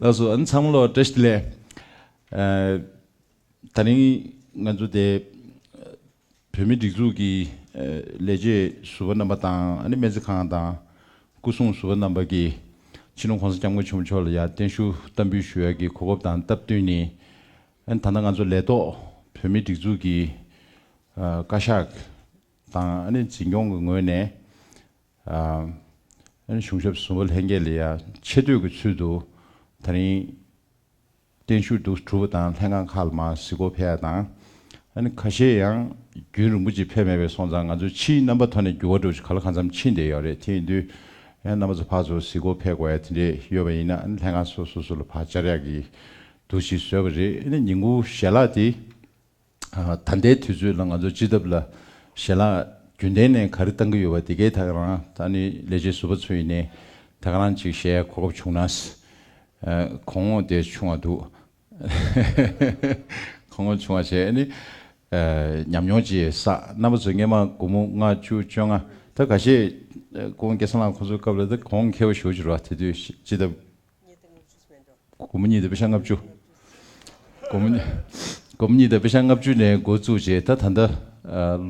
ལགས་སོ་ཨ་ནི་ཚང་མ་ལོག་བཀྲ་ཤིས་ལེ། ད་རིང་ང་ཚོ་དེ་བོད་མི་སྒྲིག་འཛུགས་ཀྱི་ལས་བྱེད་ཟུར་བ་རྣམ་པ་དང་ཨ་ནི་སྨན་རྩིས་ཁང་དང་སྐུ་སྲུང་ཟུར་བ་རྣམ་པ་ཀྱིས་ཕྱི་ནང་གོང་ས་སྐྱབས་མགོན་ཆེན་པོ་མཆོག་ལ་ཡར་བརྟན་བཞུགས་གཏམ་འབུལ་ཞུ་ཡ་གི་གོ་བབ་དང་སྟབས་བསྟུན་ནི་ཨ་ནི་ད་ལྟ་ང་ཚོ་ལས་ཐོག་བོད་མི་སྒྲིག་འཛུགས་ཀྱི་བཀའ་ཤག་དང་ཨ་ནི་འཛིན་སྐྱོང་གི་ངོས་ནས། གཞུང་ཞབས་ཟུར་བ་ལྷན་རྒྱས་ལས་ཡང་ཆེ་བསྟོད་ཀྱི་ཚུལ་དུ་ད་རིང་བརྟན་བཞུགས་འདུག་གྲུབ་པ་དང་ལྷན་ཁང་ཁག་ལ་མ་གཟིགས་སྐོར་ཕེབས་ཡ་དང། ཁ་ཤས་ཡང་རྒྱུན་རིང་པོ་ཅིག་ཕེབས་མེད་པས་སོང་ཙང་ང་ཚོའི་ཕྱིའི་རྣམ་པ་ཐོ་ནས་འགྱུར་བ་འགྲོ་ཆེད་ག་ལ་གང་འཚམ་ཕྱིན་བསྡད་ཡོད་རེད་དེ་ཡིན་དུས་ཡང་རྣམ་པ་ཚོ་ཕར་ཚུར་གཟིགས་སྐོར་ཕེབས་དགོས་ཡ་དེ་འདྲས་ཡོད་པ་ཡིན་ན་ལྷན་ཁང་སོ་སོ་སོ་ལ་བག་ཅར་ཡག་གི་འདུག་ཅེས་བཟོས་པ་རེད་ཉིན་གུང་ཞལ་ལག་དེ། ད་ལྟའི་དུས་ཚོད་ལ་ང་ཚོ་སྤྱི་ཐབ་ལ་ཞལ་ལག་རྒྱུན་ལྡན་ནས་ག་རེ་བཏང་གི་ཡོད་པ་དེ་གའི་ཐག་རང་ད་ནི་ལས་བྱེད་ཟུར་པ་ཚོ་ཡིན་ནས་ཐག་རང་ཅིག་ཞལ་གོ་སྐབས་བྱུང་ན། གོང་འོག་དེ་ཆུང་བ་འདུག་གོང་འོག་ཆུང་བ་ཞེས་ནི་ཉམས་མྱོང་ཅི་ཡོད་བསགས་རྣམ་པ་ཚོ་སྔས་མ་དགུ་མོ་ལྔ་བཅུ་བཅོ་ལྔ་ད་ག་ཤེད་ཀོང་སྐྱེ་ས་ལང་ཁོང་ཚོའི་སྐབས་ལ་ད་གོང་མཁས་པོ་ཞོ་བྱུར་བ་དེ་དུས་སྤྱི་ཐབ། གཉིས་དང་ལྔ་བཅུས་སྨད་འགྲོ། དགོང་མོ་གཉིས་དང་དཔེ་ཆ་ལྔ་བཅུ། དགོང་མོ་དགོང་མོ་གཉིས་དང་དཔེ་ཆ་ལྔ་བཅུ་ནས་འགོ་བཙུགས་རྗེས་ད་ད་ལྟ་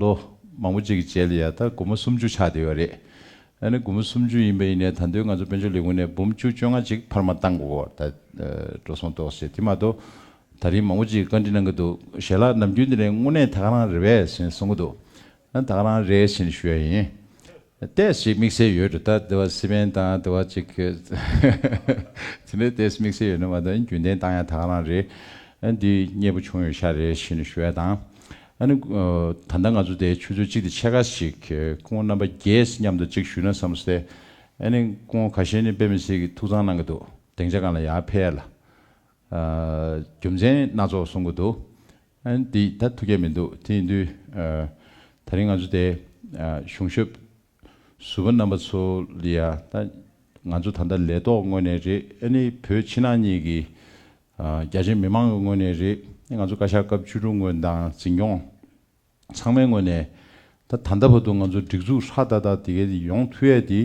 ལོ་མང་པོ་གཅིག་གི་རྗེས་ལ་ཡང་ད་དགོང་མོ་སུམ་བཅུ་ཆགས་བསྡད་ཡོད་རེད། ད་ནི་དགོང་མོ་སུམ་བཅུ་ཡིན་པ་ཡིན་ནའི་ད་འདོད་ང་ཚོ་དཔལ་འབྱོར་ལས་ཁུངས་ནས་འབུམ་བཅུ་བཅོ་ལྔ་ཅིག་འཕར་མ་བཏང་དགོས་སྐོར་ད་འགྲོ་སོང་གཏོགས་བྱས་དེ་མ་གཏོགས་ད་རིང་མང་པོ་ཅིག་བཀའ་འདྲི་གནང་གི་འདུག་ཞལ་ལག་ནམ་རྒྱུན་འདི་ནས་དངོས་གནས་ད་ག་རང་རེད་བས་ཟེར་ནས་གསུང་གི་འདུག་ད་ག་རང་རེད་ཟེར་ནས་ཞུ་ཡ་ཡིན། ལྟས་ཤིག་དམིགས་བསལ་ཡོད་འགྲོ་ད་ལྟ་བ་སི་པན་དང་ལྟ་བ་གཅིག་གིས། དེ་འདྲའི་ལྟས་དམིགས་བསལ་ཡོད་ན་མ་མཐའ་ཡིན་རྒྱུན་ལྡན་བཏང་ཡང་དག་ལངས་རེད། འདི་མཉེས་པོ་བྱུང་ཡོད་ཤག་རེད་བཞིན་ནས་ཞུ་བ་དང། ཨ་ནི། ད་ལྟ་ང་ཚོ་དེའི་ཆུ་ཚོད་གཅིག་དེ་ཕྱེད་ཀ་ཞིག་སྐུ་ངོ་རྣམ་པ་རྒྱས་མཉམ་དུ་གཅིག་ཞུས་ན་བསམ་སྟེ། ཨ་ནི་སྐུ་ངོ་ག་ཤེད་ནི་དཔེ་མི་སྲིད་ཀི་ཐུགས་གཙང་གནང་གི་འདུག་དེང་ཆ་གང་ལ་ཡང་ཕེ་ཡ་ལ། རྒྱུ་མཚན་སྣ་ཚོགས་གསུང་གི་འདུག་འདི་ད་ཐུགས་ཁྱད་མི་འདུག་དེ་ཡིན་དུས་ད་རིང་ང་ཚོ་དེ་གཞུང་ཞབས་ཟུར་པ་རྣམ་པ་ཚོ་ལ་ཡ་ད་ང་ཚོ་ད་ལྟ་ལས་ཐོག་ངོས་ནས་རེད་ཨ་ནི་བོད་ཕྱི་ནང་གཉིས་ཀྱི་རྒྱ་ཆེ་མི་མང་གི་ངོས་ནས་རེད་ང་ཚོ་བཀའ་ཤག་སྐབས་བཅུ་དྲུག་ངོས་དང་འཛིན་སྐྱོང། ཚང་མའི་ངོས་ནས། ད་ད་ལྟ་བར་དུ་ང་ཚོ་སྒྲིག་འཛུགས་ཧྲག་ཏག་ཏག་དེ་གའི་དེ་ཡོང་ཐུ་ཡས་དེ།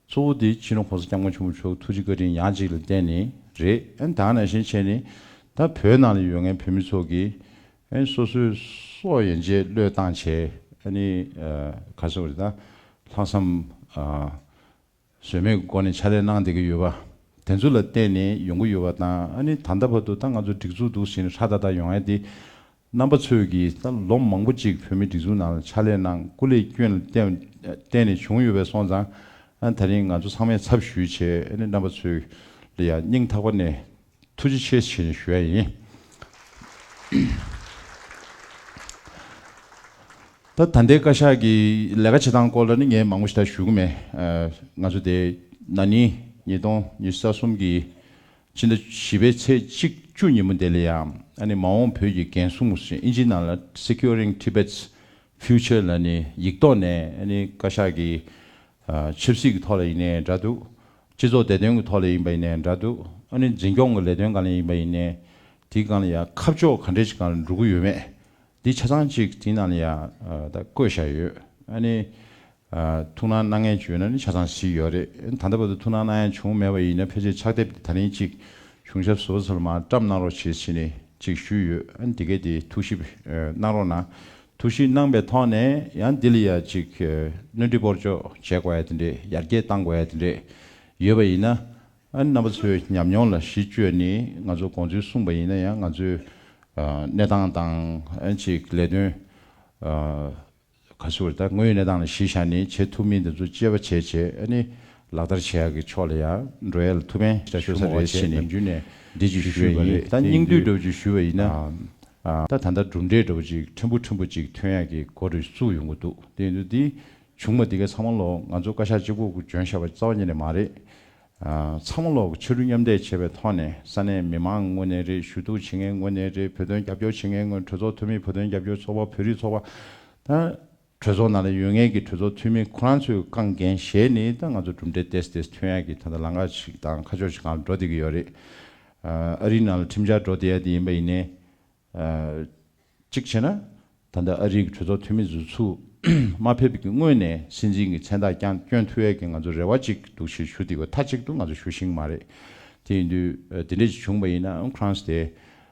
གཙོ་བོ་དེ་ཕྱི་ནང་གོང་ས་སྐྱབས་མགོན་ཆེན་པོ་མཆོག་ཐུགས་རྗེ་བཀའ་དྲིན་ཡང་གཅིག་ལ་བརྟེན་ནས་རེད་ཨན་དང་ནང་བཞིན་བྱས་ནས། ད་བོད་ནང་ལ་ཡོད་མཁན་བོད་མི་ཚོ་གི། ཨན་སོ་སོའི་སོ་ཡན་ཆད་བློས་བཏང་བྱས་ཨ་ནི། ག་ས་བ་རེད་ད། ལྷག་བསམ། ཟོལ་མེད་སྒོ་ནས་ཕྱག་ལས་གནང་བསྡད་ཀྱི་ཡོད་པ་དེ་ཚོ་ལ་བརྟེན་ནས་ཡོང་གི་ཡོད་པ་དང་ཨ་ནི་ད་ལྟ་བར་དུ་ད་ང་ཚོ་སྒྲིག་འཛུགས་འདུག་ཟེར་ནས་ཧྲ་ཏག་ཏག་ཡོང་ཡ་དེ་རྣམ་པ་ཚོས་ཀྱིས་ད་ལོ་མང་པོ་ཅིག་བོད་མི་སྒྲིག་འཛུགས་ནང་ལ་ཕྱག་ལས་གནང་སྐུ་ལས་སྐྱོན་ལ་བརྟེན་ནས་བྱུང་ཡོད་པས་སོང་ཙང་ཨ་ནི་ད་རིང་ང་ཚོ་ཚང་མས་ཚབ་ཞུས་བྱས་ཨ་ནི་རྣམ་པ་ཚོས་ལ་ཡང་སྙིང་ཐག་པ་ནས། ཐུགས་རྗེ་ཆེ་ཞེས་ཞུ་བ་ཡིན། ད་ད་ལྟའི་བཀའ་ཤག་གི་ལས་ཀ་བྱེད་སྟངས་སྐོར་ལ་ནི་ངས་མང་པོ་ཞིག་ད་ཞུ་གི་མེད། ང་ཚོ་དེ་ན་ནིང་ཉིས་སྟོང་ཉི་ས་གསུམ་གྱི་ཕྱི་ཟླ་བཞི་པའི་ཚེས་གཅིག་བཅུ་ཉིན་མོ་དེ་ལ་ཡང་ཨ་ནི་མ་འོངས་བོད་ཀྱི་འགན་སྲུང་ཞེས་དབྱིན་ཇིའི་ནང་ལ Securing Tibet's Future ལ་ནི་ཡིག་ཐོག་ནས་ཨ་ནི་བཀའ་ཤག་གི་ཆབ་སྲིད་ཀྱི་ཐོག་ལ་ཡིན་ནའི་འདྲ་འདུག་སྤྱི་ཚོགས་བདེ་དོན་གྱི་ཐོག་ལས་ཡིན་པ་ཡིན་ནའི་འདྲ་འདུག་ཨ་ནི་འཛིན་སྐྱོང་གི་ལས་དོན་གང་ལས་ཡིན་པ་ཡིན་ནའི་དེའི་སྒང་ལ་ཡང་ཁ་ཕྱོགས་ག་འདྲས་ཀྱི་སྒང་ལ་འགྲོ་གི་ཡོད་མེད་འདི་ཆ་ཚང་གཅིག་དེའི་ནང་ལ་ཡང་ད་བཀོད་བཞག་ཡོད་ཨ་ནི། ཐུགས་སྣང་གནང་མཁན་བྱུང་ཡོད་ན་ནི་ཆ་ཚང་གཟིགས་ཡོད་རེད་ད་ལྟ་བར་དུ་ཐུགས་སྣང་གནང་ཡ་བྱུང་མེད་པ་ཡིན་ན་ཕལ་ཆེར་ཕྱག་དེབ་དེ་ད་རིང་གཅིག་གཞུང་ཞབས་ཟུར་བ་ཚོ་ལ་མ་བཀྲམས་གནང་རོགས་བྱེད་ཕྱིན་ནས་གཅིག་ཞུས་ཡོད་ཨ་ནི་དེ་གས་དེ་ཐུགས་ཞིབ་གནང་རོགས་གནང་ཐུགས་གཞིགས་གནང་པའི་ཐོག་ནས་ཡང་འདི་ལ་ཡ་གཅིག་སྣོན་འཕྲི་སྤོར་གཅོག་བྱེད་དགོས་ཡ་དེ་འདྲས་ཡར་རྒྱས་གཏང་དགོས་ཡ་དེ་འདྲས་ཡོད་པ་ཡིན་ན། རྣམ་པ་ཚོའི་ཉམས་མྱོང་ལ་གཞི་བཅོལ་ནས་ང་ཚོ་དགོངས་ཚུལ་གསུངས་པ་ཡིན་ན་ཡང་ང་ཚོའི་གནས་སྟངས་དང་ཅིག་ལས་དོན་ག་ཚོད་ད་དངོས་ཡོད་གནས་སྟངས་ལ་གཞི་བཞག་ནས་བྱེད་ཐུབ་མིན་དེ་ཚོ་དཔྱད་པ་བྱས་རྗེས་ལག་བསྟར་བྱེད་ཡག་གི་ཕྱོགས་ལ་ཡང་འགྲོ་ཡ་ལ་ཐུགས་ཕན་ཞུ་མོ་བ་བྱས་ནས་འདི་བརྗོད་ཞུས་པ་རེད་ད་སྙིང་བསྡུས་སྒྲུབ་བརྗོད་ཞུས་པ་ཡིན་ན། ད་ད་ལྟ་གྲུབ་འབྲས་འདྲ་བོ་ཅིག་ཕྲན་བུ་ཕྲན་བུ་ཅིག་ཐོན་ཡག་གི་སྒོ་རེ་བཙུགས་ཡོང་གི་འདུག་དེ་ཡིན་དུས་འདི་བྱུང་བ་འདི་ག་ཚང་མ་ལོག་ང་ཚོ་བཀའ་ཤག་སྤྱི་ཁོག་གི་འཇོན་ཤ་བ་རྩ་བ་ཉིད་ནས་མ་རེད། ཚང་མ་ལོག་ཕྱི་རུ་མཉམ་འདེགས་བྱེད་པའི་ཐོག་ནས་ས་གནས་མི་མང་དངོས་གནས་རེད་ཞུ་གཏུག་བྱེད་མཁན་དངོས་གནས་རེད་བོད་དོན་རྒྱབ་སྐྱོར་བྱེད་མཁན་དངོས་གྲོས་ཚོགས་འཐུས་མི་བོད་དོན་རྒྱབ་སྐྱོར་ཚོགས་པ་བོད་རིགས་ཚོགས་པ། གྲོས་ཚོགས་ནང་ལ་ཡོད་ངེས་ཀྱི་གྲོས་ཚོགས་འཐུས་མི་ཁོ་རང་ཚོའི་རྐང་འགན་གཞན་ནི་ད་ང་ཚོ་གྲུབ་འབྲས་དེ་སྟེ་ཐོན་ཡག་གི་ད་ལྟ་ལང་ཀ་ཞིག་དང་ཁ་ཕྱོགས་ཞིག་གང་ལ་འགྲོ་བསྡད་ཀྱི་ཡོད་རེད། ཨ་རིའི་ནང་ལ་ཁྲིམས་འཆར་འགྲོ་བསྡད་ཡ་དེ་ཡིན་པ་ཡིན་ནའི། གཅིག་བྱས་ན། ད་ལྟ་ཨ་རིའི་གྲོས་ཚོགས་འཐུས་མི་ཟུར་ཚུགས་མ་ཕེབས་ཀྱི་སྔོན་ནས་སྲིད་འཛིན་གྱི་མཚན་རྟགས་ཀྱང་བསྐྱོན་ཐུབ་ཡ་གི་ང་ཚོར་རེ་བ་ཅིག་འདུག་ཞེས་ཞུ་དེ་གོ་མཐའ་གཅིག་ཏུ་ང་ཚོ་ཞུ་ཤིང་མ་རེད། དེ་ཡིན་དུས་དེ་འདྲས་ཅིག་བྱུང་བ་ཡིན་ན་ཨོན་ཁྲང་སི་དེ་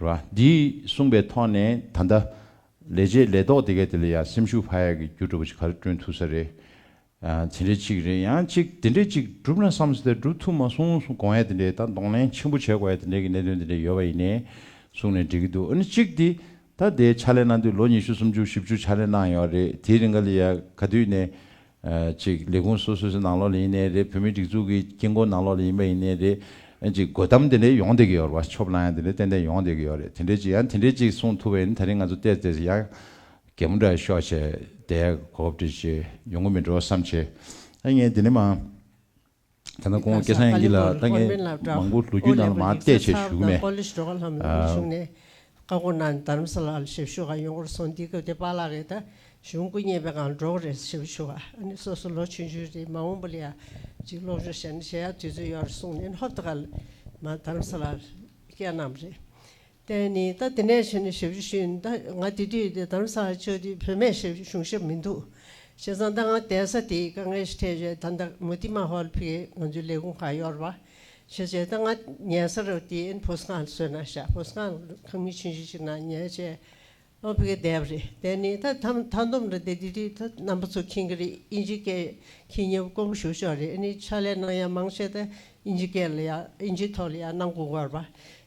ར། འདིས་གསུངས་པའི་ཐོག་ནས་ད་ལྟ། ལས་བྱེད་ལས་ཐོག་དེ་ག་དེ་ལ་ཡང་སེམས་ཤུགས་བག་ཡག་གི་རྒྱུ་གྲུབ་པ་ཞིག་ག་རེ་བསྐྲུན་ཐུབ་ས་རེད། དེ་འདྲའི་ཅིག་རེད་ཡང་ཅིག་དེ་འདྲའི་ཅིག་གྲུབ་ན་བསམ་ས་དེ་གྲུབ་ཐུབ་མ་སོང་གསུངས་དགོངས་ཡས་དེ་འདྲའི་ད་གདོང་ལེན་ཆེན་པོ་བྱེད་དགོས་ཡས་དེ་འདྲའི་གི་གནད་དོན་དེ་འདྲའི་ཡོད་པ་ཡིན་ནས་གསུངས་ནས་འགྲིག་གི་འདུག་ཨ་ནི་ཅིག་དེ་ད་དེའི་ཕྱག་ལས་གནང་དུས་ལོ་ཉི་ཤུ་སུམ་ཅུ་བཞི་བཅུ་ཕྱག་ལས་གནང་ཡོད་རེད་དེའི་རིང་ག་ལ་ཡས་ག་དུས་ནས་གཅིག་ལས་ཁུངས་སོ་སོ་སོའི་ནང་ལོགས་ལ་ཡིན་ནའི་རེད་བོད་མིའི་སྒྲིག་འཛུགས་ཀྱི་དཀྱིལ་འཁོར་ནང་ལོགས་ལ་ཡིན་པ་ཡིན་ནའི་རེད། གཅིག་དགོད་གཏམ་དེ་འདྲའི་ཡོང་བསྡད་ཀྱི་ཡོད་རེད་པ་ཆོབ་ལང་ཡང་དེ་འདྲའི་ཏན་ཏན་ཡོང་བསྡད་ཀྱི་ཡོད་རེད་དེ་འདྲའི་གཅིག་ཡང་དེ་འདྲའི་གཅིག་གསུངས་ཐུབ་པ་ཡིན་ན་ད་རིང་ང་ཚོ་བལྟས་བལྟས་ཚེ་ཡང་རྒད་མོ་འདྲ་ཤོག་བྱས་བསྡད་གོ་བབ་འདྲ་ཅིག་ཡོང་གི་མི་འགྲོ་བསམ་བྱས། ཨ་ངས་འདི་ནས་མ། ད་ནི་ཁོང་སྐལ་བཟང་ཡན་གྱིས་ལ་དྭགས་ནས་མང་པོ་ལོ་རྒྱུས་ནང་ལ་མ་བལྟས་ཆེད་བཞུགས་ནས། བསྟན་ནི་ད་དེ་ནས་བྱས་ནས་ཞབས་ཞུ་ཞུས་ཡིན་ད་ང་དེ་དུས་དེ་དམ་ས་ཆོས་དུས་བོད་མའི་ཞབས་ཞུ་གཞུང་ཞབས་མི་འདུག་བྱས་ཙང་ད་ང་བསྡད་ས་དེའི་དཀའ་ངལ་ཞིག་འཕྲད་བྱས་ད་ད་མུ་ཏི་མ་ཧོལ་ཕིག་གིས་ང་ཚོའི་ལས་ཁུངས་ཁག་གཡོར་བ་བྱས་བྱས་ད་ང་ཉལ་སར་དེའི་ཕོ་སྒང་བསོད་ན་ཤ་ཕོ་སྒང་ཁང་མིག་ཆུང་ཆུང་ཞིག་ན་ཉལ་བྱས། སློབ་དཔོན་གྱི་དེབ་རེད་དེ་ནི་ད་ཐམ་མཐའ་འདོམས་རེད་དེ་འདི་རིགས་ད་རྣམ་པ་ཚོ་མཁྱེན་གྱི་རེད་དབྱིན་ཇི་སྐད་མཁྱེན་ཉོབ་དཀོན་པོ་ཞུ་ཤོག་རེད་ནི་ཕྱག་ལས་གནང་ཡག་མང་ཤེས་ད་དབྱིན་ཇི་སྐད་ལ་ཡག་དབྱིན་ཇི་ཐོག་ལ་ཡག་གནང་དགོས་མགོར་པ་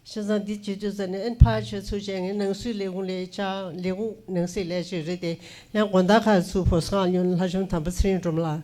ཤེས་ཙང་འདི་ཇི་དུས་ཙམ་ནས་ཨན་ཕག་ཆོས་ཚུལ་ཅན་གྱི་ནང་སྲིད་ལས་ཁུངས་ལས་བྱ་ལས་ཁུངས་ནང་སྲིད་ལས་བྱེད་རེད་དེ་ཡང་དགོན་བདག་ཁག་ཚུལ་ཕོ་སངས་སྨྱོན་ལྷ་བྱམས་དམ་པ་ཚེ་རིང་འབྲོམ་ལགས་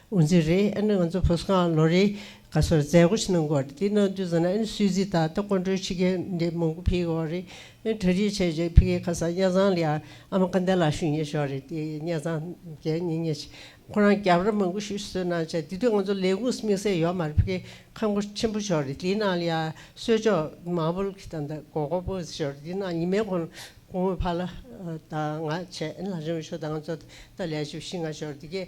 འུ་ཚོའི་རེད་ཨ་ནི་ང་ཚོ་བོད་ས་ཁང་ལོ་རེ་ག་སོར་མཛད་སྒོ་ཞིག་གནང་དགོས་རེད་དེ་གནང་དུས་ཟེར་ན་ཨ་ནི་སུད་སི་དང་ད་ཀོང་ཀྲོའི་ཕྱི་རྒྱལ་འདི་མང་པོ་ཕེབས་ཡོང་རེད་ཨ་ནི་གྲ་སྒྲིག་བྱས་རྗེས་ཕི་ཁེ་ཁ་སང་གཉའ་ཚང་ལ་ཡང་ཨ་མ་ཀ་འདའ་ལགས་ཞུས་ཉེ་ཞོར་རེད་དེ་གཉའ་ཚང་རྒྱལ་ཉེ་ཉེ་བྱས་ཁོ་རང་རྒྱབ་ར་མང་པོ་ཞུས་སུད་གནང་བྱས་དེ་དུས་ང་ཚོ་ལས་ཁུངས་སུ་དམིགས་བསལ་ཡོད་མ་རེད་ཕི་ཁེ་ཁ་མགོ་ཆེན་པོ་ཞོར་རེད་དེ་གནང་ལ་ཡང་གསོལ་ཅོག་མང་པོ་ལགས་དང་ད་གོ་གོ་པོ་ཞོར་རེད་དེ་གནང་ཉི་མའི་གོང་ལོ་ཕ་ལ་དང་ང་བྱས་ཨ་ནི་ལགས་ཞུས་མ་ཞོར་ད་ང་ཚོ་ད་ལས་བྱེད་བཞི་ལྔ་ཞོར་རེད་དེ་གས།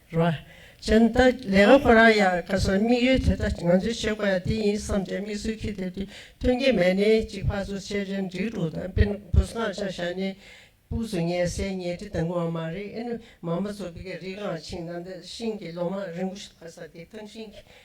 ར། གཞན་ད་ལས་ང་ཁོ་རང་ཡང་ཁ་སང་དམིགས་ཡུལ་དེ་ད་ང་ཚོའི་བྱེད་དགོས་ཡ་དེ་ཡིན་བསམ་སྟེ་དམིགས་སུ་ཁྱེར་ཏེ་དུས་ཐུང་གི་མལ་ནས་གཅིག་ཕར་ཚུར་ཆས་རྗེས་འབྲི་གྲུ་དང་དཔོན་བུ་སྔགས་འཆང་བཞག་ནས་སྤུག་སུ་ངལ་སེལ་ཉལ་ཁྲི་དང་གོ་བ་མ་རེད་ཨེ་ནུ་མ་མ་ཚོ་བི་ག་རིག་ངང་ཆིངས་ན་འདི་ཤིང་གི་ལོ་མ་རིང་པོ་ཞིག་ལྷག་ས་དེ་ཐང་ཤིང་གི་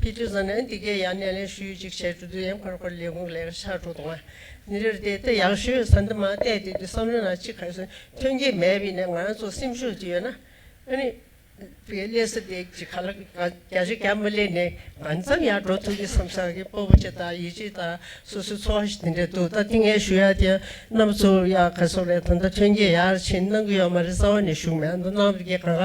ཕི་ཏུ་ཛི་ནན་ཏི་ཀེ་ཡ་ནན་ལེ་ཤུའི་ཅིག་ཆའི་ཀྲུ་དུ་ཡན་ཕར་ཕར་ལེ་གུང་ལེ་ཤ་ཀྲུ་དུ་ང་ནི་རེར་ཏེ་ཏི་ཡང་ཤུའི་ས་འདི་མ་གཏད་དེ་དུས་སམ་ལོ་ན་ཅི་ཁར་སོན་ཐོན་གྱི་མེད་པས་ནི་ང་རང་ཚོ་སེམས་ཤུགས་ཀྱི་ཡོད་ན་ནི་ཏི་ལེ་སི་ཏི་ཀྱི་ཁ་ལ་ག་ཅི་ཀ་མི་ལེ་ནི་གང་ཙམ་ཡང་འགྲོ་ཐུབ་ཀྱི་སམ་ས་གི་སྤོ་བོ་ཅི་དང་ཡི་ཅི་དང་སོ་སོའི་འཚོ་བ་ཞིག་དེ་འདྲས་འདུག་ད་ཏི་ངའི་ཤུ་ཡ་དེ་རྣམས་ཚོ་ཡང་ཁ་སོ་ལེ་ད་ད་ཐོན་གྱི་ཡར་ཕྱིན་གནང་གི་ཡོད་མ་རེད་རྩ་བ་ནས་ཞུགས་མེད་འདུག་གནང་བར་གྱི་གང་ག་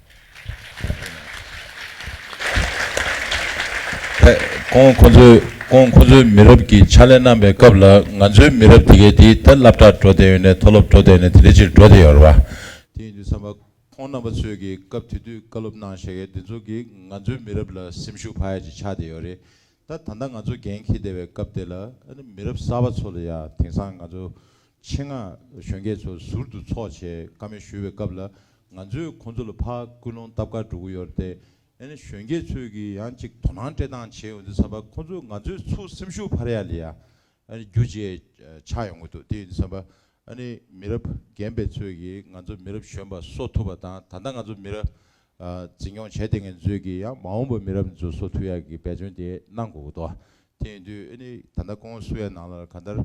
ཁོང་ཁོ་ཚོའི་མི་རབས་ཀྱི་ཕྱག་ལས་གནང་པའི་སྐབས་ལ་ང་ཚོའི་མི་རབས་དེ་གའི་དེ་ལྟར་བསླབ་གྲྭར་འགྲོ་བསྡད་ཡོད་ནས་མཐོ་སློབ་འགྲོ་བསྡད་ནས་དེ་འདྲའི་ཕྱིར་འགྲོ་བསྡད་ཡོད་རེད་བ། དེ་ཡིན་དུས་བསམ་པ་ཁོང་རྣམ་པ་ཚོས་ཀྱི་སྐབས་དེ་དུས་བཀའ་སློབ་གནང་བཞེས་མཁན་དེ་ཚོ་གིས་ང་ཚོའི་མི་རབས་ལ་སེམས་ཤུགས་བག་ཡས་ཀྱིས་ཆགས་བསྡད་ཡོད་རེད་ད། ད་ལྟ་ང་ཚོ་འགན་འཁྱེར་བསྡད་པའི་སྐབས་དེ་ལ་ཨ་ནི་མི་རབས་གསར་བ་ཚོ་ལ་ཡང་དེང་སང་ང་ཚོ་ཆེད་མངགས་གཞོན་སྐྱེས་ཚོ་ཟུར་དུ་འཚོགས་ཆེད་བཀའ་མོལ་ཞུ་བའི་སྐབས་ལ་ང་ཚོས་ཁོང་ཚོ་ལ་ཕ་སྐུལ་སློང་སྟབས་ཀར་འགྲོ་གི་ཡོད་རེད་དེ། ཨེ་ནི་གཞོན་སྐྱེས་ཚོས་ཀྱིས་ཡང་ཅིག་དོ་སྣང་སྤྲད་སྟངས་བྱས་ཡོང་དུས་བསམ་པ་ཁོང་ཚོས་ང་ཚོའི་ཚུགས་སེམས་ཤུགས་འཕར་ཡ་ལི་ཡ། ཨེ་ནི་རྒྱུ་རྗེས་ཆགས་ཡོང་གི་འདུག་དེ་ཡིན་དུས་བསམ་པ། ཨེ་ནི་མི་རབས་རྒན་པའི་ཚོས་ཀྱིས་ང་ཚོ་མི་རབས་གཞོན་པ་གསོ་ཐུབ་པ་དང་ད་ལྟ་ང་ཚོ་མི་ར་འཛིན་སྐྱོང་བྱས་དེ་ངན་ཚོས་ཀྱིས་ཡང་མ་འོངས་པ་མི་རབས་མི་ཚོ་གསོ་ཐུབ་ཡ་གི་འབད་བརྩོན་དེ་གནང་དགོས་གི་འདུག་དེང་དུས་ཨེ་ནི་ད་ལྟ་ཀོང་སི་བའི་ནང་ལ་ག་དར་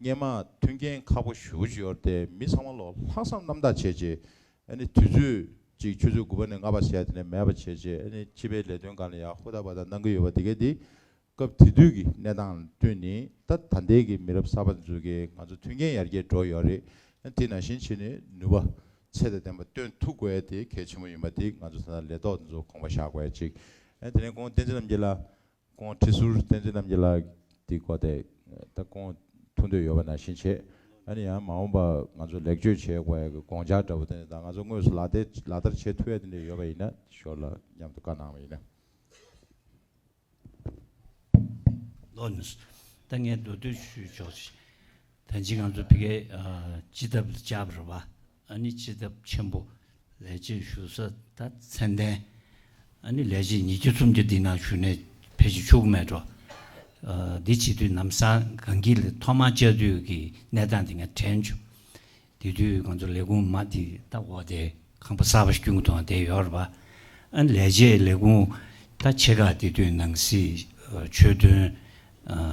སྙན་མ་མཐུན་རྐྱེན་ཁག་པོ་ཞུ་བྱེད་ཡོར་ཏེ་མི་ཚང་མ་ལོག་ལྷག་བསམ་རྣམ་དག་བྱེད་ཅེས་ཨེ་ནི་དུས་ཚོད་ཅིག་ཆུ་ཚོད་དགུ་པ་ནས་ལྔ་པ་ཟད་དེ་ནས་མེད་པ་བྱེད་ཅེས་ཨེ་ནི་སྤྱི་པའི་ལས་དོན་གང་ལ་ཡང་ཧུར་ཐག་པ་ཐག་གནང་གི་ཡོད་པ་དེ་གས་དེ་སྐབས་དེ་དུས་ཀྱི་གནས་སྟངས་ལ་བསྟུན་ནི་ད་ད་ལྟའི་ཀྱི་མི་རབས་གསར་པ་འཛུལ་གྱིས་ང་ཚོ་མཐུན་རྐྱེན་ཡར་རྒྱས་འགྲོ་ཡོར་རེད་ཨེ་དེ་ན་བཞིན་བྱེད་ནི་ནུས་པ་ཚད་དང་ལྡན་པ་བཏོན་ཐུབ་དགོས་ཡས་དེ་གལ་ཆེན་པོ་ཡིན་པ་དེ་ང་ཚོ་ད་ལྟ་ལས་ཐོག་འཛུགས་གོང་པ་བཞག་དགོས་ཅིག་ཨེ་དེ་ནས་ཀོང་བསྟན་འཛིན་རྣམ་རྒྱལ་ལ་ཀོང་ཁྲི་ཟུར་བསྟན་འཛིན་རྣམ་རྒྱལ་ལགས་ཀྱི་སྐོར་དེ་ད་ཀོང་ཐུག་འདོད་ཡོད་པ་ནང་བཞིན་བྱེད་ཨ་ནི་ཡང་མ་འོངས་པ་ང་ཚོ་ལེགས་བཅོས་བྱེད་དགོས་ཀི་ཀོང་ཇག་འདྲ་བོ་དེ་ད་ང་ཚོ་དངོས་སུ་ལག་བསྟར་བྱེད་ཐུ་ཡ་དེ་འདྲ་ཡོད་པ་ཡིན་ན་ཞོར་ལ་མཉམ་དུ་བཀའ་གནང་བ་ཡིན་ན། ལོ་ནས་སུ་ད་ངའི་མདོ་སྟོད་ཆུས་ཕྱོགས་ཆེ་ད་འཇིག་ང་ཚོ་བི་གའི་ཇི་ལྟ་བུ་ལ་བཅར་བ་རེད་བ། ཨ་ནི་སྤྱི་ཐབ་ཆེན་པོ་ལས་བྱེད་ཞུ་ས་ད་མཚན་ལྡན། ཨ་ནི་ལས་བྱེད་ཉིས་བརྒྱ་རྩོམ་རྒྱུ་འདི་ན་ཞུ་ནས་ཕེ་ཅི་ཆོག་གི་མེད་འགྲོ། འདི་བྱེད་དུས་ནམ་སང་གངས་སྐྱིད་ལ་ཐོག་མར་བཅར་དུས་ཀྱི་གནས་སྟངས་དེ་ང་དྲན་བྱུང། དེ་དུས་ང་ཚོ་ལས་ཁུངས་མ་དེ་ད་འོག་དེ་ཁང་པ་གསར་པ་ཞིག་བསྐྱུར་གི་འདུག་དེ་ཡོ་རོབ་པ་ཨ་ནི་ལས་བྱེད་ལས་ཁུངས་ད་ཆེ་ཁག་དེ་དུས་ནང་སྲིད། ཆོས་དོན།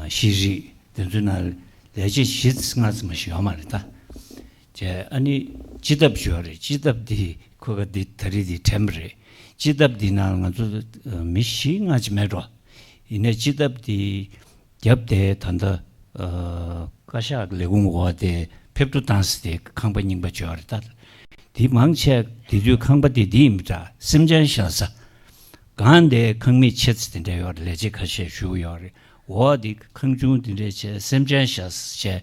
ཤེས་རིག་དེ་ཚོའི་ནང་ལས་བྱེད་བཞི་ལྔ་ཙམ་ཞིག་ཡོད་མ་རེད་ད། ཅེས་ཨ་ནི་སྤྱི་ཐབ་ཞོ་རེད་སྤྱི་ཐབ་འདི་ཁོ་ག་འདི་ད་རི་འདི་དྲན་པ་རེད་སྤྱི་ཐབ་འདི་ནང་ང་ཚོ་མི་བཞི་ལྔ་ཅི་མེད་འགྲོ་ཡིན་ནས་སྤྱི་ཐབ་འདི་བརྒྱབ་སྟེ་ད་ལྟ་བཀའ་ཤག་ལས་ཁུངས་འོག་དེ་ཕེབས་འགྲོ་བཏང་ཟེར་དེ་ཁང་པ་རྙིང་པ་བྱོས་བ་རེད་ད་དེ་མང་ཆེ་དེ་དུས་ཁང་པ་དེ་འདི་ཡིན་མི་འདྲ་སེམས་ཅན་ཤ་ཟ་གང་དེ་ཁང་མིག་ཕྱེ་ཚེ་དེ་འདྲ་ཡོད་རེད་ལས་བྱེད་ཁ་ཤས་བཞུགས་ཡོད་རེད་འོ་དེ་ཁང་ཆུང་དེ་འདྲ་བྱས་སེམས་ཅན་ཤ་ཟ་བྱས་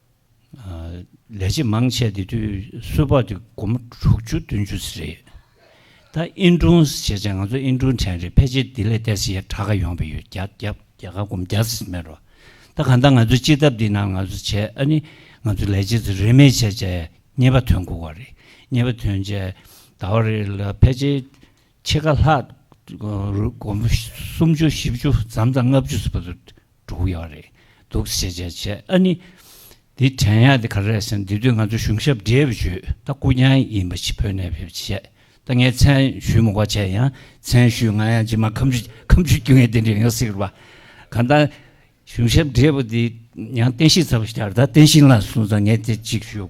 ལས་བྱེད་མང་ཆེ་དེ་དུས་སུ་བར་དུ་སྒོར་མོ་དྲུག་ཅུ་བདུན་ཅུ་ཟེར་རེད། ད་ཨིན་ཀྲུང་ཞེས་བྱས་ང་ཚོ་ཨིན་ཀྲུང་དྲན་རེད་ཕལ་ཆེར་དེ་ལས་ལྟས་ཟེར་ཡ་གྲགས་ཀ་ཡོང་བས་ཡོད་བརྒྱ་བརྒྱ་བརྒྱ་ག་གོམ་བརྒྱ་ཟེར་མེད་རོ། ད་གང་ལྟར་ང་ཚོའི་སྤྱི་ཐབ་འདི་ནང་ང་ཚོ་བྱས་ཨ་ནི་ང་ཚོ་ལས་བྱེད་ཚོ་རེས་མེད་བྱས་བྱས་རྙེད་པ་ཐོན་དགོས་བ་རེད་རྙེད་པ་ཐོན་བྱས་ད་བར་རེ་ལ་ཕལ་ཆེར་ཕྱེད་ཀ་ལྷག་སྒོར་མོ་སུམ་ཅུ་བཞི་བཅུ་ཙམ་ཙམ་ལྔ་བཅུ་ཟེར་བ་ཚོ་འགྲོ་གི་ཡོད་རེད་འདུག་ཞེས་བརྗོད་བྱས་ཨ་ནི། འདི་དྲན་ཡག་འདི་ག་རེད་ཟེར་ན་དེ་དུས་ང་ཚོ་གཞུང་ཞབས་འདྲེས་པའི་ཇུས་ད་སྐུ་མྱང་ཡིན་པ་ཞིག་བོད་ནས་ཕེབས་ཅི་བྱས་ད་ངས་མཚན་ཞུས་མུག་པ་བྱས་ཡང་མཚན་ཞུས་ང་ཡང་ཇི་མ་ཁམ་ཆུ་ཁམ་ཆུ་རྒྱུ་ངས་དེ་འདྲས་ཡོང་སྲིད་པ་གང་ད་གཞུང་ཞབས་འདྲེས་པ་འདི་ཡང་བསྟན་ཤིང་ཚ་བ་ཞིག་ཡར་ད་བསྟན་ཤིང་ལ་སོང་ཙང་ངས་དེ་གཅིག་ཞུ།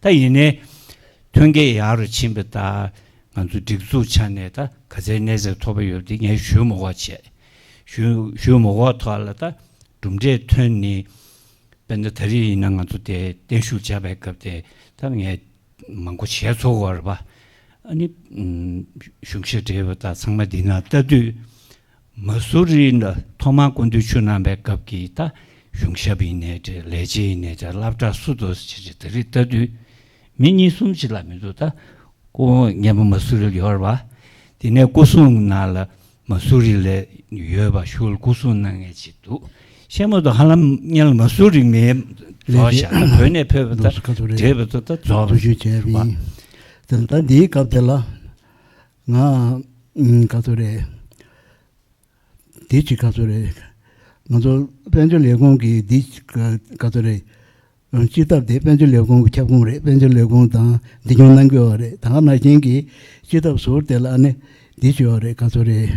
ད་ཡིན་ནའི། ཐོན་སྐྱེད་ཡག་རུ་ཕྱིན་པ་དང་ང་ཚོ་སྒྲིག་འཛུགས་ཆ་ནས་ད་ག་ཚད་གནས་ཚད་མཐོ་པོ་ཡོད་དེ་ངས་ཞུས་མོ་འགོག་བྱས། ཞུས་ཞུས་མོ་འགོག་ཐོག་ལ་ད་གྲུབ་འབྲས་ཐོན་ནི། དཔེར་ན་ད་རེས་ཡིན་ན་ང་ཚོ་དེ་བརྟན་བཞུགས་བྱ་བའི་སྐབས་དེ་ད་ངས་མང་པོ་བྱས་ཚོར་བར་བ། ཨ་ནི་གཞུང་ཞབས་བགྲེས་པོ་དག་ཚང་མ་འདི་ན་ལྟ་དུས། མ་སུ་རི་ནི་ཐོག་མར་ཀུན་འདུས་ཆོས་རྣམ་པའི་སྐབས་ཀྱི་ད་གཞུང་ཞབས་ཡིན་ནས་ཏེ་ལས་བྱེད་ཡིན་ནས་ཏེ་བླ་བྲག་སུ་དོ་ཞེས་བྱ་དེ་རིགས་ལྟ་དུས། མི་གཉིས་གསུམ་གཅིག་ལ་མི་འདུག་ད་སྐུ་ངལ་བ་མ་སུ་རི་ལ་ཡོད་ར་བ། དེ་ནས་སྐུ་གསུང་ན་ལ་མ་སུ་རི་ལ་ཡོད་པ་ཤུལ་སྐུ་གསུང་ན་ངལ་གཅིག་འདུག་ཤེས་མོ་དོ་ཧ་ལམ་ངལ་བ་མ་སུ་རི་མའི་ལས་བྱེད་ད་བོད་ནས་ཕེབས་པ་ད་འབྲས་བུ་དོ་ད་རྫོགས་ལ་ཞུགས་ཞེས་བྱ་བ། ད་འདིའི་སྐབས་དེ་ལ་ང་ཨང་ཀ་ཚོད་རེད། དེའི་ཕྱི་ཀ་ཚོད་རེད། ང་ཚོ་དཔལ་འབྱོར་ལས་ཁུངས་ཀྱི་དེའི་ཕྱི་ཀ་ཚོད་རེད། སྤྱིར་བཏབ་དེ་དཔལ་འབྱོར་ལས་ཁུངས་ཀྱི་ཁྱབ་ཁོངས་རེད་དཔལ་འབྱོར་ལས་ཁུངས་དང་འདི་སྐྱོང་གནང་དགོས་བ་རེད་ད་ང་ནར་མཁྱེན་གྱིས་སྤྱིར་བཏབ་ཟུར་དེ་ལ་ཨ་ནི་དེའི་ཕྱི་བ་རེད་ཀ་ཚོད་རེད།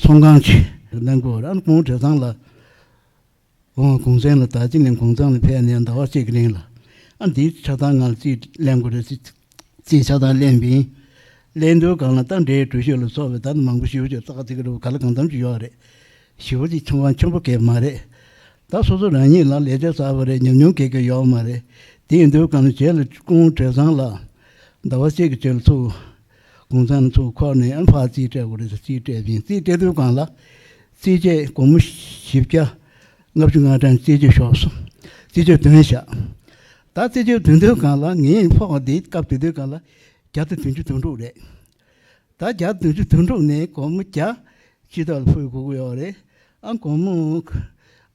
ཚོང་ཁང་ཆེ་གནང་དགོས་བ་རེད་ཨ་ནི་གོང་བྲེ་ཚང་ལ། གོང་གོང་ཚང་ལ་ད་ཅི་ནས་གོང་ཚང་ལ་ཕེབས་ནས་ཟླ་བ་གཅིག་རིང་ལ་ཨ་འདིའི་ཆགས་སྡང་ངར་ཅིག་གླེང་དགོས་རེད་ཅེས་ཆགས་སྡང་གླེང་བིན། གླེང་དོན་གང་ལ་རྟ་འདྲེའི་གྲུ་ཞོ་ལ་སོགས་པའི་བརྡ་མང་པོ་ཞུ་ཞུ་ཙག་ཅིག་རེད་བུ་ག་ལ་གང་འདམ་ཅིག་ཡོད་རེད། ཞི་བ་ཅིག་ཆོམ་བ་ཆོམ་པོ་གས་མ་རེད། ད་སོ་སོ་རང་ཉིད་ལ་ལས་ཆ་གསར་བ་རེ་ཉམས་ཉུང་གས་གས་ཡོད་མ་རེད། དེའི་འདོད་གང་ལ་བྱས་ལ་ཀོང་བྲེ་ཚང་ལ་ཟླ་བ་གཅིག་གི་ཆོད་ལ་ཐུག། དགུང་གསུམ་མཚོ་ཁོག་ནས་ཨན་ཧྥ་རྩིས་སྤྲད་དགོས་རེད་ཟེར་རྩིས་སྤྲད་ཅིང་རྩིས་སྤྲད་དུས་གང་ལ་རྩིས་སྤྲད་དགོང་མོ་བཞི་བརྒྱ་ལྔ་བཅུ་ལྔ་གྲངས་རྩིས་རྒྱུ་ཤོག་སུ་རྩིས་རྒྱུ་དོན་བཞག་ད་རྩིས་རྒྱུ་དོན་དུས་གང་ལ་ངའི་ཕོག་བ་འདི་སྐབས་དེ་དུས་གང་ལ་བརྒྱ་དང་བདུན་ཅུ་དོན་དྲུག་རེད་ད་བརྒྱ་དང་བདུན་ཅུ་དོན་དྲུག་ནས་གོང་མོ་བརྒྱ་སྤྱི་ལྟར་ལ་ཕུལ་དགོས་ཀྱི་ཡོག་རེད་ཨང་གོང་མོ་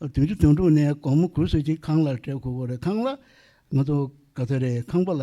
བདུན་ཅུ་དོན་དྲུག་ནས་གོང་མོ་གུས་བསོད་ཀྱི་ཁང་ལ་སྤྲད་དགོས་ཀྱི་རེད་ཁང་ལ་ང་ཚོ་ག་ཚོད་རེད་ཁང་པ་ལ་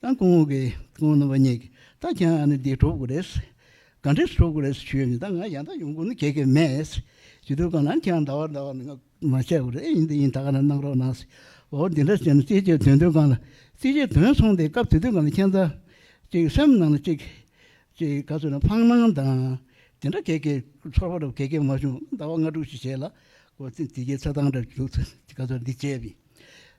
ཏང་གོང་འོག་གི་ཏང་རྣམ་པ་གཉིས་ཀྱིས་ད་ཀྱང་ཨ་ནི་འདི་འགྲོ་དགོས་རེད། ག་འདྲས་འགྲོ་དགོས་རེད་ཞུས་ཡོད་མེད་ད་ང་ཡང་དག་ཡོང་དགོས་ནི་གལ་གལ་མེད། ཇུས་འདོན་གང་ནང་ཀྱང་ཟླ་བ་ཟླ་བ་ནས་ང་མ་བྱས་དགོས་རེད་ཡིན་འདི་ཡིན་ད་ག་ནས་གནང་རོགས་གནང། འོ་འདི་འདྲ་བྱས་ན་ཅིག་ཅིག་དོན་དོན་གང་ལ་ཅིག་ཅིག་དོན་སོང་སྟེ་སྐབས་དུས་དུས་གང་ལ་ཁྱེད་ཚ། ཅིག་སེམས་ནང་ལ་ཅིག། ཅིག་ག་ཚོད་ན་ཕངས་སྣང་དང། དེ་འདྲ་གལ་གལ་ཚོར་བ་རུ་གལ་གལ་མ་བྱུང་ཟླ་བ་ལྔ་དྲུག་ཅིག་བྱས་ལ། འོ་དེ་དེ་ཁྱེད་ཚ་ཏང་འདྲ་འདྲ་འདུག་ཚུལ་ཅིག་ག་ཚོད་འདི་བྱས་པས།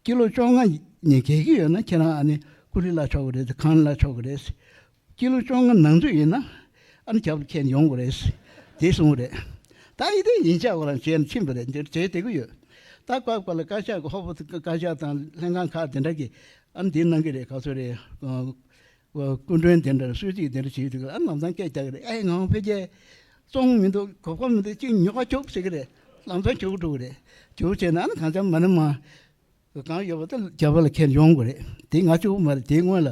སྐྱིད་ལོ་བཅོ་ལྔ་ཉིན་གྱེས་ཀྱི་ཡོད་ན་ཁྱེད་རང་ཨ་ནི་ཀུ་རི་ལ་ཆོག་གི་རེད་གངས་རི་ལ་ཆོག་གི་རེད། སྐྱིད་ལོ་བཅོ་ལྔ་ནང་ཚུད་ཡིན་ན་ཨ་ནི་རྒྱབ་ལ་ཁྱེད་ཡོང་གི་རེད། དེ་གསུངས་པ་རེད། ད་ཡི་དེ་ཉིན་བཅར་བ་རང་བྱས་ནས་ཕྱིན་པ་རེད་འདིར་བྱེད་བདེ་གི་ཡོད། ད་བཀག་པ་ལ་བཀའ་ཤག་གི་ཧོ་པོ་དང་བཀའ་ཤག་དང་ལྷན་ཁང་ཁག་དེ་འདྲ་གིས་ཨ་ནི་དེ་གནང་གི་རེད་ག་ཚོད་རེད། སྐུ་མགྲོན་དེ་འདྲར་གསོལ་ཚིགས་དེ་འདྲ་བྱེད་དུས་ཨ་ལམ་སང་སྐད་རྒྱག་གི་རེད་ཨ་ཡེ་ངའང་འཕེལ་རྒྱས་བཙོང་མི་འདུག་གོ་སྐབས་མི་འདུག་ཅིག་ཉོ་ཁ་ཅུག་བྱེད་ཀྱི་རེད་ལམ་སང་བྱེད་དགོས་འགྲོ་གི་རེད་ཅུག་བྱས་ན་ཨ་ནི་གང་ལྕམ་མ་ནི་མ་གང་ཡོད་པ་དེ་རྒྱ་བོད་ལ་ཁྱེར་ཡོང་དགོས་རེད་དེ་ང་ཅུག་མ་རེད་དེའི་སྔོན་ལ་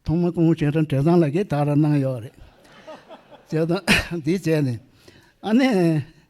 ཐོག་མ་སྐུ་ངོ་ཆེན་ཁྲ་འབྲས་བཟང་ལགས་ཀྱིས་དག་ར་གནང་ཡོད་རེད་བྱས་དང་འདི་བྱས་ནས་ཨ་ནི།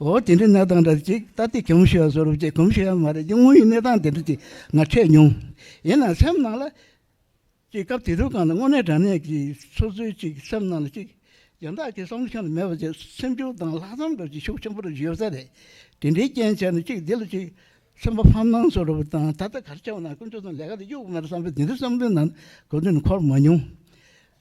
འོ་དེ་འདྲའི་གནས་སྟངས་འདྲ་ཅིག་ད་ལྟའི་གོམས་གཤིས་ཡང་བཟོ་རུབ་ཀྱི་གོམས་གཤིས་ཡང་མ་རེད་ཀྱི་དངོས་ཡོད་གནས་སྟངས་དེ་འདྲ་ཅིག་ང་འཕྲད་མྱོང། ཡིན་ནའང་སེམས་ནང་ལ། ཅིག་སྐབས་དེ་དུས་གང་ལ་དངོས་གནས་དྲང་གནས་ཀྱི་ཚོད་ཚོད་ཅིག་སེམས་ནང་ལ་ཅིག། གཞན་དག་གི་བསམ་བློ་ཤོར་ནས་མེད་པ་ཅིག་སེམས་ཆུང་དང་ལྷག་བསམ་འགྲོ་ཅིག་ཤུགས་ཆེན་པོ་རེ་ཞུ་ས་རེད། དེ་འདྲའི་རྐྱེན་བྱས་ནས་ཅིག་འདི་ལ་ཅིག། སེམས་པ་ཕམ་སྣང་བཟོ་རུབ་དང་ད་ལྟ་གར་ཆགས་པ་ན་དཀོན་མཆོག་ཚང་ལས་ཀ་དེ་གཡུག་མ་རེད་བསམ་པའི་དེ་འདྲའི་བསམ་བློའི་ནང་གོ་དོན་འཁོར་མ་མྱོང།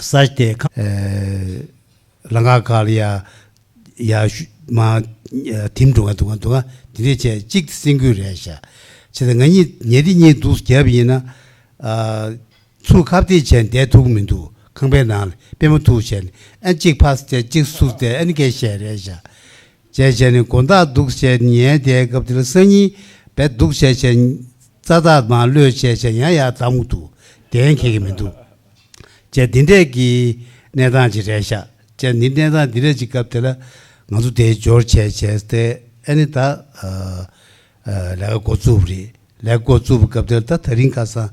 ས་དེ་ག། ལ་ང་ག་ལ་ཡ། ཡ། མ། དིམ་འདུག་ང་འདུག་ང་འདུག་ང། དེ་འདྲས་བྱས་གཅིག་དེ་སེམས་གུས་རེད་ཤག། བྱས་ད་ང་གཉིས་ཉལ་དེ་གཉིས་འདུག་བརྒྱབ་ཡིན་ན། ཚུར་ཁ་བརྡས་བྱས་བསྡད་ཐུག་མི་འདུག་ཁང་པའི་ནང་ལ་པད་མོ་ཐུག་བྱས་ཨེ་གཅིག་ཕ་ས་བྱས་གཅིག་སུར་བསྡད་ཨེ་ནི་གས་བཤད་རེད་ཤག། བྱས་བྱས་ནས་དགོན་བདག་འདུག་བྱས་ཉལ་བསྡད་སྐབས་དེར་སང་ཉིན་བས་འདུག་བྱས་བྱས། རྩ་དག་མ་གློད་བྱས་བྱས་ཡང་ཡང་དམ་དུ་གདན་འཁེལ་གྱི་མི་འདུག་བྱས་འདི་འདྲས་ཀྱི་གནས་སྟངས་ཅིག་རེད་ཤག་བྱས་འདི་གནས་སྟངས་འདི་རེད་ཅིག་སྐབས་དེ་ལ་ང་ཚོ་དེའི་འབྱོར་བྱས་བྱས་སྟེ་ཨེ་ནི་ད་ལས་ཀ་འགོ་བཙུགས་པ་རེད་ལས་ཀ་འགོ་བཙུགས་པའི་སྐབས་དེར་ད་ད་རིང་ཁ་སང་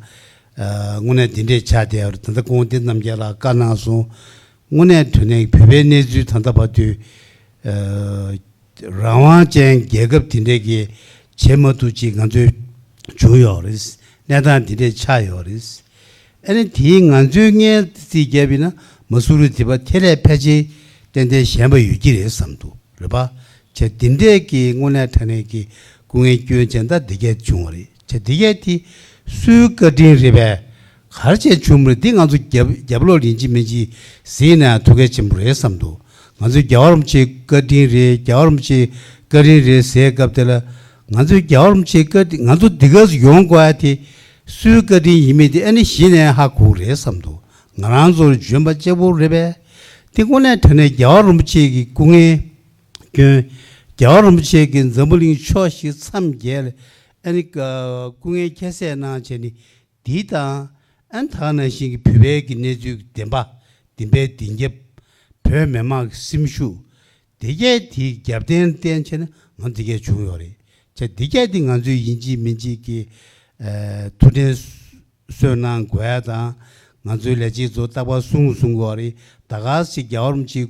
དངོས་གནས་འདི་འདྲས་ཆགས་བསྡད་པ་རེད་ད་ལྟ་དགོན་སྡེ་རྣམས་རྒྱ་ལ་བཀའ་གནང་སོང་དངོས་གནས་དུ་ནས་བོད་པའི་གནས་ཚུལ་ད་ལྟ་བར་དུས། རང་དབང་ཅན་རྒྱལ་ཁབ་དེ་འདྲས་ཀྱི་བྱེད་མ་ཐུབ་ཅིག་ང་ཚོས་བྱུང་ཡོད་རེད། གནས་སྟངས་དེ་འདྲས་ཆགས་ཡོད་རེད། ཨ་ནི་དེའི་ང་ཚོའི་སྔའི་རྩིས་རྒྱབ་ཡིན་ན་མ་སུ་རི་དེ་པ་དེ་ལས་ཕལ་ཆེར་ཏན་ཏན་ཞན་པ་ཡོད་ཀྱི་རེད་བསམ་འདུག་རེད་པ། བྱས་དེ་འདྲས་ཀྱི་དངོས་གནས་དྲ་གནས་ཀྱི་སྐུ་ངལ་སྐྱོན་ཅན་ད་འདི་སྐད་བྱུང་བ་རེད། བྱ། འདི་སྐད་དེ་སུའི་བཀའ་དྲིན་རེད་པས། གར་བྱས་ཆུང་མོས་འདི་ང་ཚོ་རྒྱབ་ལོག་ལིན་ཅི་མིན་ཅི་ཟིག་ཡིན་ན་ཐུགས་གལ་ཆེན་པོ་རེད་བསམ་འདུག་ང་ཚོའི་རྒྱ་བ་རོམ་ཆེའི་བཀའ་དྲིན་རེད་རྒྱ་བ་རོམ་ཆེའི་བཀའ་དྲིན་རེད་ཟེར་སྐབས་དེ་ལ་ང་ཚོའི་རྒྱ་བ་རོམ་ཆེའི་བཀའ་དྲིན་ང་ཚོ་འདི་ག་ཚོ་ཡོང་དགོས་ཨ་དེ་སུའི་བཀའ་དྲིན་ཡིན་མིན་དེ་ཨ་ནི་གཞི་ནས་ཧ་གོ་རེད་བསམ་འདུག་ང་རང་ཚོར་འཇོན་པ་གཅེར་བུ་རེད་པས། འདི་དངོས་གནས་དྲ་གནས་རྒྱ་བ་རོམ་ཆེའི་སྐུ་ངལ། སྐྱོན། རྒྱལ་བ་རིན་པོ་ཆེ་གིས་འཛམ་བུ་གླིང་ཕྱོགས་བཞི་མཚམས་བརྒྱད་ལ་ཨན། སྐུ་ངལ་ཁྱད་བསད་གནང་བྱས་ནས་འདི་དང། ཨན་དག་ནང་བཞིན་གྱི་བུད་བལ་གྱི་གནས་ཚུལ་གྱི་བདེན་པ་བདེན་པའི་བདེན་རྒྱབ། བོད་མི་དམངས་ཀྱི་སེམས་ཤུགས། སྡེ་བརྒྱད་དེའི་རྒྱབ་བརྟེན་བརྟེན་བྱས་ན་ང་འདི་གས་བྱུང་ཡོད་རེད་ཆ་སྡེ་བརྒྱད་དེ་ང་ཚོའི་ཡིན་གཅིག་མིན་གཅིག་གི། ཐུགས་འབྲེལ་གསོལ་གནང་དགོས་ཡ་དང། ང་ཚོའི་ལས་བྱེད་ཚོ་རྟག་པར་བསུང་བསུང་དགོས་རེད་ད་ག་ཟེ་རྒྱལ་བ་རིན་པོ་ཆེའི།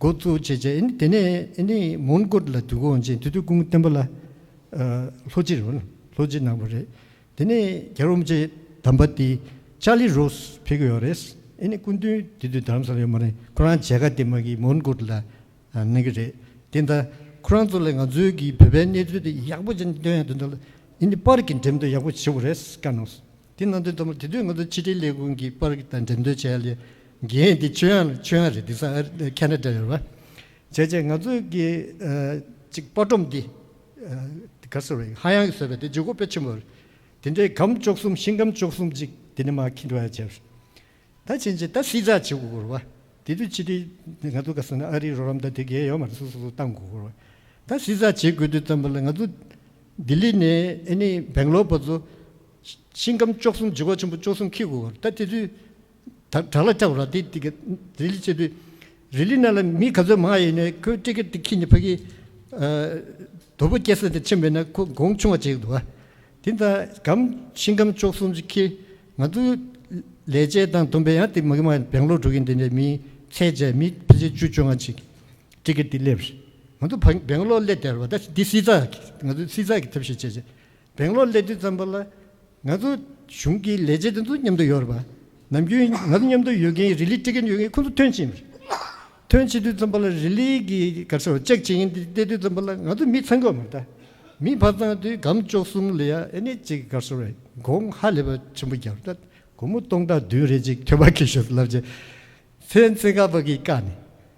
འགོ་བཙུགས་བྱས་རྗེས་དེ་ནས་མོན་གྷོ་ལ་འདུག་འོང་རྗེས་དུས་དུས་ཀུན་བསྟན་པ་ལ་ལྷོ་སྤྱིར་ལྷོ་སྤྱི་གནང་བ་རེད། དེ་ནས་རྒྱལ་རོང་རྗེ་དམ་པ་དེ་ཅཱ་ལི་རོ་སུ་ཕེབས་ཀྱི་ཡོད་རེད། སྐུ་མདུན་དེ་དུས་དར་ས་ལ་ཡོད་མ་རེད་ཁོ་རང་མཇལ་ཁ་དེ་མ་གིས་མོན་གྷོ་ལ་གནང་གི་རེད། དེ་ལྟར་ཁོ་རང་ཚོ་ལས་ང་ཚོའི་གིས་བོད་པའི་གནས་ཚུལ་དེ་ཡག་པོ་ཅན་སྟོན་ཡག་དོན་དུ་ལ་ཨིན་དེ་པར་གྱི་འགྲེམས་སྟོན་ཡག་པོ་བྱེད་དགོས་རེད་བཀའ་གནང་སོང། དེ་གནང་དོན་ལྟ་བུར་དེ་དུས་ང་ཚོ་ཕྱི་དྲིལ་ལས་ཁུངས་ཀྱི་པར་དང་འགྲེམས་སྟོན་བྱས་ལས་འགན་དེ་ཆོས་དབྱངས་ཆོས་དབྱངས་རེད་འདུག་ས་ཁྱེད་འདྲ་འདྲ་ཡོད་པ་བྱས་རྗེས་ང་ཚོ་གི་ཅིག་པར་སྒྲོམ་འདི་གར་ཟེར་བ་ཡིན་ཧ་ཡང་ཟེར་བ་དེ་ཇོ་ཁོ་དཔེ་ཆེན་པོ་རེད་དེ་འདྲའི་གམ་ལྕོག་གསུམ་ཤིང་གམ་ལྕོག་གསུམ་ཅིག་དེ་ནས་མ་ཁེ་འགྲོ་ཡ་བྱས་པ་རེད་ད་ཕྱིན་ཆད་ད་སྲིད་ཚགས་བྱེད་དགོས་སྐོར་བ་དེ་དུས་ཕྱི་དྲིལ་ང་ཚོ་ག་ཟེར་ན་ཨ་རིའི་རོགས་རམ་ད་དེ་གས་ཡོད་མ་རེད་སོ་སོ་སོ་བཏང་དགོས་སྐོར་བ་ད་སྲིད་ཚགས་བྱེད་དགོས་དུས་ཙམ་པ་ལ་ང་ཚོ་ལྡི་ལི་ནས་ཨེ་ནི་བེང་ལོར་བ་ཚོ་ཤིང་སྐམ་ལྕོག་གསུམ་འཇིགས་བ་ཆེན་པོ་ལྕོག་གསུམ་ཁྱི་གུ་བར་ད་ཏི་ཏུ། བྲག་ལ་ལྕགས་ར་ཏི་ཏི་ཀ་རི་ལི་ཅི་ཏུ། རི་ལི་ན་ལ་མི་ག་ཚོད་མང་ཡེ་ནས་ཁོའི་ཏི་ཀ་ཏི་ཁྱི་ནི་ཕ་གི། དོ་པོ་སྐྱེ་ས་དེ་ཆེན་པོ་ཡེ་ན་ཁོ་དགོང་ཆུང་བ་བྱེད་ཀྱི་འདུག་ཨ། དེ་ལྟ་སྐམ་ཤིང་སྐམ་ལྕོག་གསུམ་གྱི་ཁྱི། ང་ཚོ་ལས་བྱེད་དང་དུམ་པའི་ཡང་ཏི་མ་གི་མ་བེང་ལོག་འགྲོ་གིན་དེ་འདྲའི་མིའི་ཚད་བཅས་མི་ཕལ་ཆེར་བཅུ་བཅོ་ལྔ་ཅིག་ཏི་ཀ་ཏི་སླེབས། ང་ཚོ་བེང་ལོག་སླེ་དེར་བ་ད་འདི་སྲིད་ཚགས་ང་ཚོའི་སྲིད་ཚགས་ཀྱི་ཐབས་ཤེས་བྱེད། སྦེང་ལོར་སླེབས་དུས་ཙམ་པོ་ལ། ང་ཚོ་གཞུང་གི་ལས་བྱེད་དེ་ཚོ་མཉམ་དུ་ཡོད་རེད་པ། ནམ་རྒྱུན་ང་ཚོ་མཉམ་དུ་ཡོད་ཀྱིན་རི་ལི་སྤྲད་ཀྱིན་ཡོད་ཀྱིན་ཁོ་ཚོ་ཐོན་ཕྱིན། ཐོན་ཕྱིན་དུས་ཙམ་པོ་ལ་རི་ལི་གི་སྒར་སོ་ཅག་ཇི་ཡིན་དེ་བལྟས་དུས་ཙམ་པོ་ལ་ང་ཚོ་མི་ཚང་གོ་མི་གདའ། མི་ཕར་ཚང་དུས་སྒམ་བཅོ་གསུམ་ལི་ཡ་ཨེ་ནེ་གཅིག་སྒར་སོ་རེད་དགོང་ཧ་ལས་པ་ཆེན་པོ་བརྒྱབ། སྒོར་མོ་སྟོང་ཕྲག་བདུན་རེ་གཅིག་ཐོན་པ་གི་ཞོ་ལབ་ཅིག། ཚན་ཚིག་ཁ་པ་གིས་བཀག་ནས།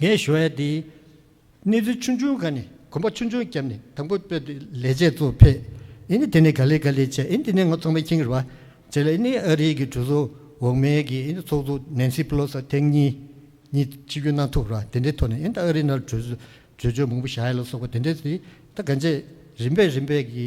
ངས་ཞོ་ཡ་འདིའི་སྣེ་རྩེ་ཆུང་ཆུང་ག་ནས་གོམ་པ་ཆུང་ཆུང་བརྒྱབ་ནས་དང་པོ་སྤོས་དུད་ལས་བྱེད་གཙོ་ཕེབས། ཨེ་ནི་དེ་ནས་ག་ལེ་ག་ལེ་བྱས་ཨེ་ནི་དེ་ནས་ང་ཚོང་པའི་ཁྱིང་རི་བ་བྱས་ལ་ཨེ་ནི་ཨ་རིའི་གི་གྲོས་ཚོགས་འོག་མའི་གི་ཨེ་ནི་ཚོགས་གཙོ་ནན་སི་པི་ལོ་སི་ཐེངས་གཉིས་གཉིས་སྤྱི་རྒྱུ་གནང་ཐུབ་ར་དེ་འདྲའི་ཐོག་ནས་ཨེ་ནི་ཨ་རི་ནར་གྲོས་གྲོས་ཆོད་མང་པོ་བཞག་ཡ་ལ་སོགས་པ་དེ་འདྲའི་གི་ད་ག་འཇས་རིམ་པས་རིམ་པས་གི།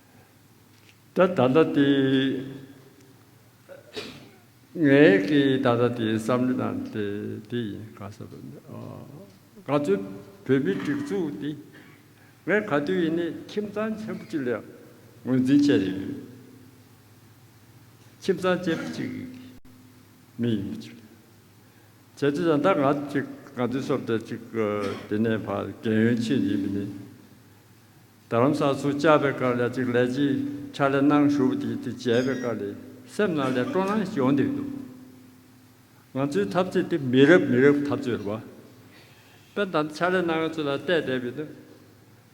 ད་ད་ལྟ་དེ། ངའི་གི་ད་ལྟ་དེའི་བསམ་བློ་དང་དེ་དེ་ཡིན་ག་ས་བོད་མི་ཨ། ག་ཚོད་བོད་མི་སྒྲིག་འཛུགས་དེ། ངས་ག་དུས་ཡིན་ནས་ཁྱིམ་ཚང་ཆེན་པོ་གཅིག་ལས་ངོས་འཛིན་བྱས་ཡོད། ཁྱིམ་ཚང་ཆེན་པོ་གཅིག་མི་ཡིན་པ་ཅིག་ལས། བྱས་ཚོད་ད་ང་ཅིག་ང་ཚོའི་སོབ་ལྟ་ཅིག་དེ་ནས་བར་རྒན་ཡོལ་ཕྱིན་ཡིན་པ་ནི། རྡ་རམ་ས་ཚུར་བཅར་བའི་སྐར་ལས་གཅིག་ལས་ཅིག་ཆར་ལས་སྣང་ཞུ་བ་དེ་དེ་བྱས་པའི་སྐར་ལས་སེམས་སྣང་ལས་སྤྲོ་སྣང་ཞིག་ཡོང་བསྡད་འདུག་ང་ཚོའི་འཐབ་རྩོད་དེ་མི་རབས་མི་རབས་འཐབ་རྩོད་རེད་བ། དཔེར་ན་ཆར་ལས་སྣང་བའི་ཚུལ་ལ་བལྟས་བསྡད་པས་ན།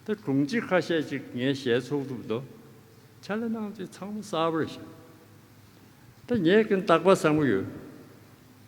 ད་དྲུང་ཆེ་ཁ་ཤས་ཅིག་ངའི་ཞལ་ཚོགས་ཐུབ་དོ། ཆར་ལས་སྣང་ཚུལ་ཚང་མ་གསར་བ་རེད་བཞག། ད་ངས་གིན་བརྟག་པ་བཟང་པོ་ཡོད།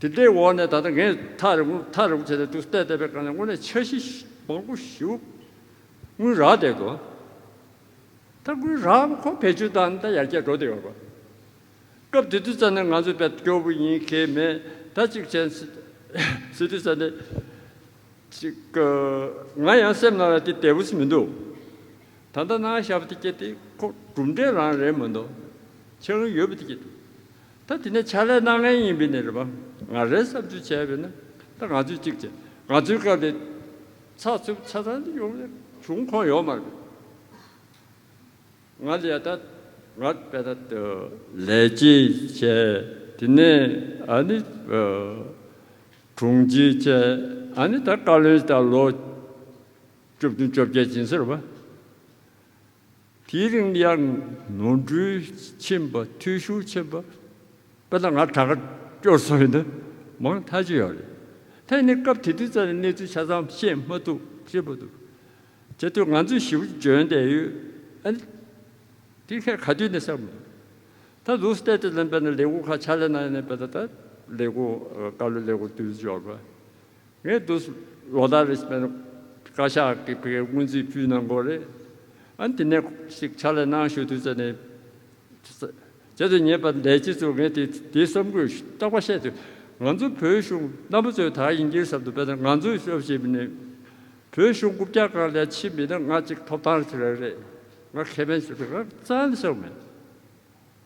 དེ་ལྟའི་འོག་ནས་ད་ལྟ་ངས་ཐག་རིང་པོ་ཐག་རིང་པོ་བྱས་ཏེ་དུས་བལྟས་བལྟས་པའི་སྐབས་ནས་དངོས་གནས་འཆར་གཞི་མང་པོ་ཞིག་དངུལ་རག་བསྡད་འདུག་ད་དངུལ་རག་པ་ཁོ་བེད་སྤྱོད་བཏང་ད་ཡར་རྒྱས་འགྲོ་བསྡད་ཡོད་པ། སྐབས་དེ་དུས་ཙམ་ནས་ང་ཚོས་བལ་སྐྱོར་བུ་ཡིན་ཁེལ་མེད་ད་གཅིག་བྱས་ཟེར་དུས་ཙམ་ནས། ཅིག། ང་ཡང་སེམས་ནང་ལ་དེ་བདེ་བོ་ཞིག་མི་འདུག་ད་ལྟ་ནང་ཤར་བུ་དེ་སྐྱེས་དེ་ཁོ་གྲུབ་འབྲས་རང་རེད་མི་འདུག་ཆགས་ཡོད་བུ་དེ་སྐྱེས་འདུག། ད་དེ་ནས་ཕྱག་ལས་གནང་ངེས་ཡིན་པས་ནི་རེ་བ་ང་རེ་བསམ་ཚུལ་བྱས་པས་ན་ད་ང་ཚོས་གཅིག་བྱས་ང་ཚོའི་སྐབས་ལས་ཚགས་ཚུད་ཆ་ཚང་དུ་ཡོང་ནས་བྱུང་ཁོངས་ཡོག་མར་བས་ང་ལས་ད་ང་བས་ད་དུ་ལས་གཅིག་བྱས་དེ་ནས་ཨ་ནི་དྲུང་གཅིག་བྱས་ཨ་ནི་ད་བཀའ་བློན་ད་ལོ་བཅུ་བདུན་བཅོ་བརྒྱད་ཅིང་ཟེར་བ། དེའི་རིང་དབྱར་ནོར་འཁྲུལ་ཕྱིན་པ་འཐུས་ཤོར་ཕྱིན་པ་དཔེར་ན་ང་དྲ་གར་སྐྱོར་སོང་ཡོད་ན་མང་མཐའ་ཅི་ཡང་རེད། ཐེངས་འདིར་སྐབས་དེ་དུས་ཙམ་ལས་གནས་ཚུལ་ཆ་ཚང་ཤེས་མ་ཐུབ་ཅེས་པ་འདུག་དེ་དུས་ང་ཚོས་ཞིབ་འཇོན་བསྡད་ཡོད་ཨ། དེ་མཁན་ག་དུས་ནས་བསམ་མོད། ད་ལུས་སྟེ་དེ་ཙམ་དཔེར་ན་ལས་སྒོ་ཁ་ཆ་ལེ་ནང་ནས་དཔེར་ན་ད་ལས་སྒོ་ཀ་ལོ་ལས་སྒོ་དུས་འབྱོར་པ། རེད་འདུག་ལོ་ཟླ་རེ་བསྐལ་བཞག་གི་བའི་སྔོན་རྩིས་ཕུལ་གནང་དགོས་རེད་ཨ་དེ་ནས་ཤིག་ཕྱག་ལས་གནང་ཞུ་དུས་ཚོད་ནས་བྱེད་དུ་ཉེས་པ་འདས་རྗེས་སུ་ངས་དེ་དེ་བསམ་དགོས་རྟག་པ་བཤད་དུས་ང་ཚོ་བོད་གཞུང་རྣམ་པ་ཚོས་ད་ཡིན་གྱི་བསམ་དུ་དཔེར་ན་ང་ཚོའི་ཤོག་བཞི་མི་ནི་བོད་གཞུང་དགུ་བརྒྱ་གང་ལས་ཕྱི་མི་ནི་ང་གཅིག་ཐོབ་ཐང་ཞིག་རེད་ང་ཁེ་ཕན་ཞིག་རེད་རང་རྩལ་ཞིག་མེད།